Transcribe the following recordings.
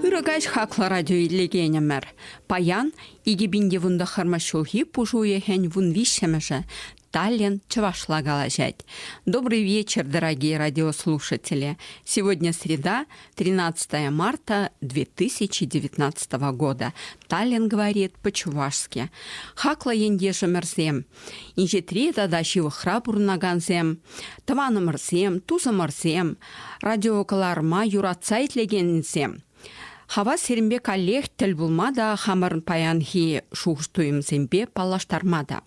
Ырӑ каҫ хаклӑ радио илекенӗмӗр. Паян икӗ пин те вунтӑххӑрмӗш ҫулхи пуш уйӑхӗн вун виҫҫӗмӗшӗ. Таллин чӑвашла калаҫать. Добрый вечер, дорогие радиослушатели! Сегодня среда, 13 марта 2019 года. Таллин говорит по-чувашски. Хаклӑ ентешӗмӗрсем, инҫетри тата ҫывӑхра пурӑнакансем, тӑванӑмӑрсем, тусӑмӑрсем, радиокӑларӑма юратса итлекенсем, хава сирӗнпе каллех тӗл пулма та хамӑрӑн паянхи шухӑш-туйӑмсемпе паллаштарма та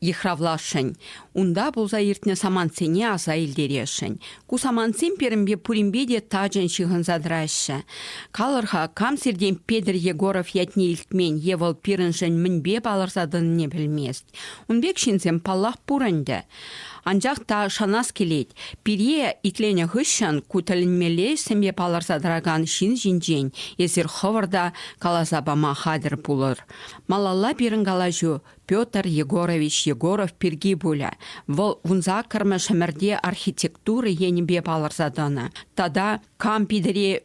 йыхравласшӑн, унта пулса иртнӗ самантсене аса илтересшӗн. Ку самантсем пирӗнпе пуринпе те тачӑн ҫыхӑнса тӑраҫҫӗ. Калӑр-ха, кам сиртен Петӗр Егоров ятне илтмен е вӑл пирӗншӗн мӗнпе палӑрса тӑнине пӗлмест. Ун пек ҫынсем, паллах, пур ӗнтӗ. Анчах та шанас килет, пире итленӗ хыҫҫӑн ку тӗлӗнмелле ӗҫсемпе палӑрса тӑракан ҫын ҫинчен эсир хӑвӑр та каласа пама хатӗр пулӑр. Малалла пирӗн калаҫу Петр Егорович Егоров пирки пулӗ. Вӑл вунсаккӑрмӗш ӗмӗрте архитектура енӗпе палӑрса тӑнӑ. Тата кам Питӗре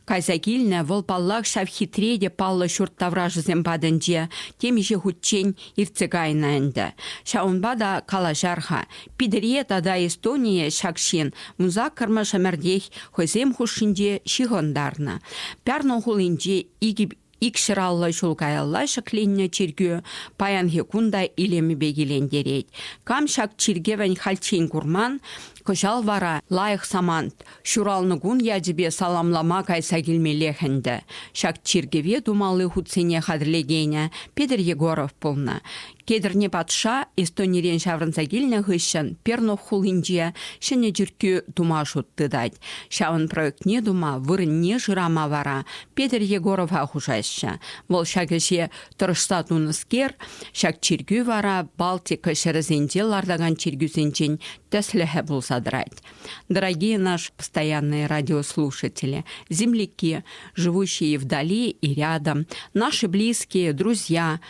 кайса килнӗ, вӑл паллах ҫав хитре те паллӑ ҫурт таврашӗсем патӗнче темиҫе хутчен иртсе кайнӑ ӗнтӗ. Ҫавӑнпа та калаҫар-ха, Питӗре тата Эстоние ҫак ҫын вунсаккӑрмӗш ӗмӗртех хӑйсем хушшинче ҫыхӑнтарнӑ. Пярну хулинче икӗ Ик ҫӑраллӑ ҫул каялла ҫӗкленнӗ чиркӳ паянхи кун та илемӗпе килентерет. Кам ҫак чиркӗвӗн хальччен курман, кӑҫал вара лайӑх самант, ҫуралнӑ кун ячӗпе саламлама кайса килмеллех ӗнтӗ. Ҫак чиркӗве тумалли хутсене хатӗрлекенӗ Петр Егоров пулнӑ. Кедӗрне патша Эстонирен ҫаврӑнса килнӗ хыҫҫӑн Пернух хулинче ҫӗнӗ чиркӳ тума шут тытать. Ҫавӑн проектне тума, вырӑнне шырама вара Петӗр Егорова хушаҫҫӗ. Вӑл ҫак ӗҫе тӑрӑшса тунӑскер, ҫак чиркӳ вара Балтика ҫӗрӗсенче лартакан чиркӳсенчен тӗслӗхӗ пулса тӑрать. Дорогие наши постоянные радиослушатели, земляки, живущие вдали и рядом, наши близкие, друзья,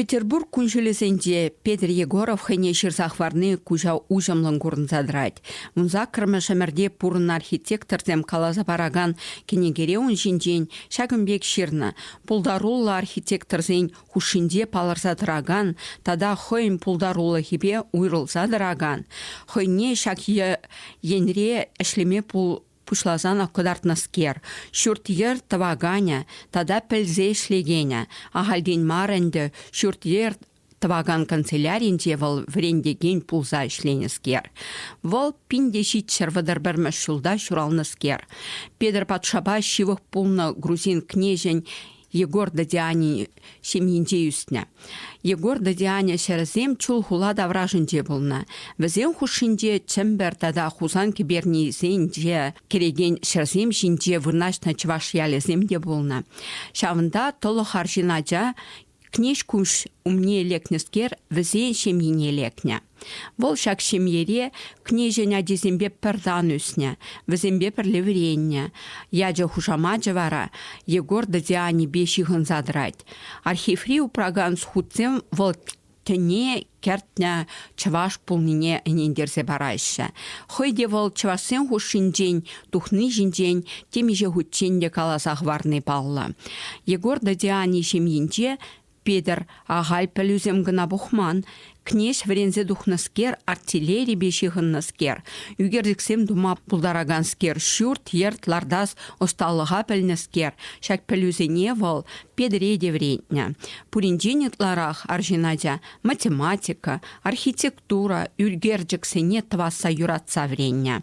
Петербург кун-ҫулӗсенче Петр Егоров хӑйне ҫырса хӑварни куҫа уҫӑмлӑн курӑнса тӑрать. Вунсаккӑрмӗш ӗмӗрте пурӑннӑ архитекторсем каласа паракан кӗнекере ун ҫинчен ҫакӑн пек ҫырнӑ, пултаруллӑ архитекторсен хушшинче палӑрса тӑракан тата хӑйӗн пултарулӑхӗпе уйрӑлса тӑракан, хӑйне ҫак енре ӗҫлеме пуҫласан кӑтартнӑскер, ҫурт-йӗр тӑваканӗ тата пӗлсе ӗҫлекенӗ. Ахальтен мар ӗнтӗ ҫурт-йӗр тӑвакан канцеляринче вӑл вӗрентекен пулса ӗҫленӗскер. Вӑл пин те ҫичҫӗр вӑтӑр пӗрмӗш ҫулта ҫуралнӑскер. Петӗр патшапа ҫывӑх пулнӑ грузин кнеҫӗн Егор Дадиани ҫемйинче ӳснӗ. Егор Дадиани ҫӗрӗсем чул хула таврашӗнче пулнӑ. Вӗсен хушшинче Чӗмпӗр тата Хусан кӗпернисенче кӗрекен ҫӗрсем ҫинче вырнаҫнӑ чӑваш ялӗсем те пулнӑ. Ҫавӑнта тӑлӑх арҫын ача Кнеҫ куҫ умне лекнӗскер вӗсен ҫемйине лекнӗ. Вӑл ҫак ҫемьере княҫӗн ачисемпе пӗр тан ӳснӗ, вӗсемпе пӗрле вӗреннӗ. Ячӗ хушамачӗ вара Егор Дадианӗпе ҫыхӑнса тӑрать. Архиври упракан хутсем вӑл тӗне кӗртнӗ чӑваш пулнине ӗнентерсе параҫҫӗ. Хӑй те вӑл чӑвашсен хушшинчен тухни ҫинчен темиҫе хутчен те каласа хӑварни паллӑ. Егор Дадиани ҫемйинче Петӗр, ахаль пӗлӳсем кӑна пухман, кнеҫ вӗренсе тухнӑскер, артиллерипе ҫыхӑннӑскер, ӳкерчӗксем тума пултараканскер, ҫурт-йӗрт лартас ӑсталӑха пӗлнӗскер, ҫак пӗлӳсене вӑл Петӗре те вӗрентнӗ. Пуринчен ытларах арҫын ача математика, архитектура ӳкерчӗксене тӑвасса юратса вӗреннӗ.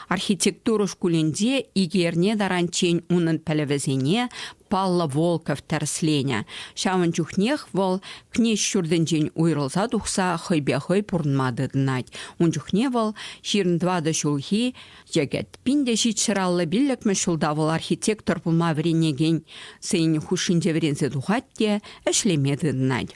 Архитектура шкулӗнче икӗ эрне таранччен унӑн пӗлӗвӗсене Паллӑ Волков тӗрӗсленӗ. Ҫавӑн чухнех вӑл Кнеҫ ҫуртӗнчен уйрӑлса тухса хӑйпе хӑй пурӑнма тытӑнать. Ун чухне вӑл ҫирӗн тӑватӑ ҫулхи йӗкӗт. Пин те ҫичҫӗраллӑ пиллӗкмӗш ҫулта вӑл архитектор пулма вӗренекен сӑйӗн хушшинче вӗренсе тухать те ӗҫлеме тытӑнать.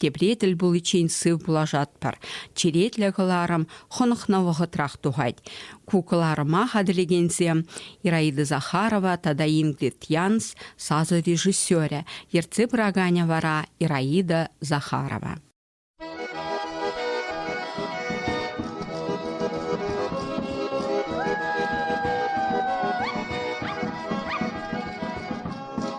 Тепре тӗл пуличчен сыв пулашатпӑр. Черетлӗ кӑларӑм хӑнӑхнӑ вӑхӑтрах тухать. Ку кӑларӑма хатӗрлекенсем Ираида Захарова тата Ингрид Янс сасӑ режиссерӗ, ертсе пыраканӗ вара Ираида Захарова.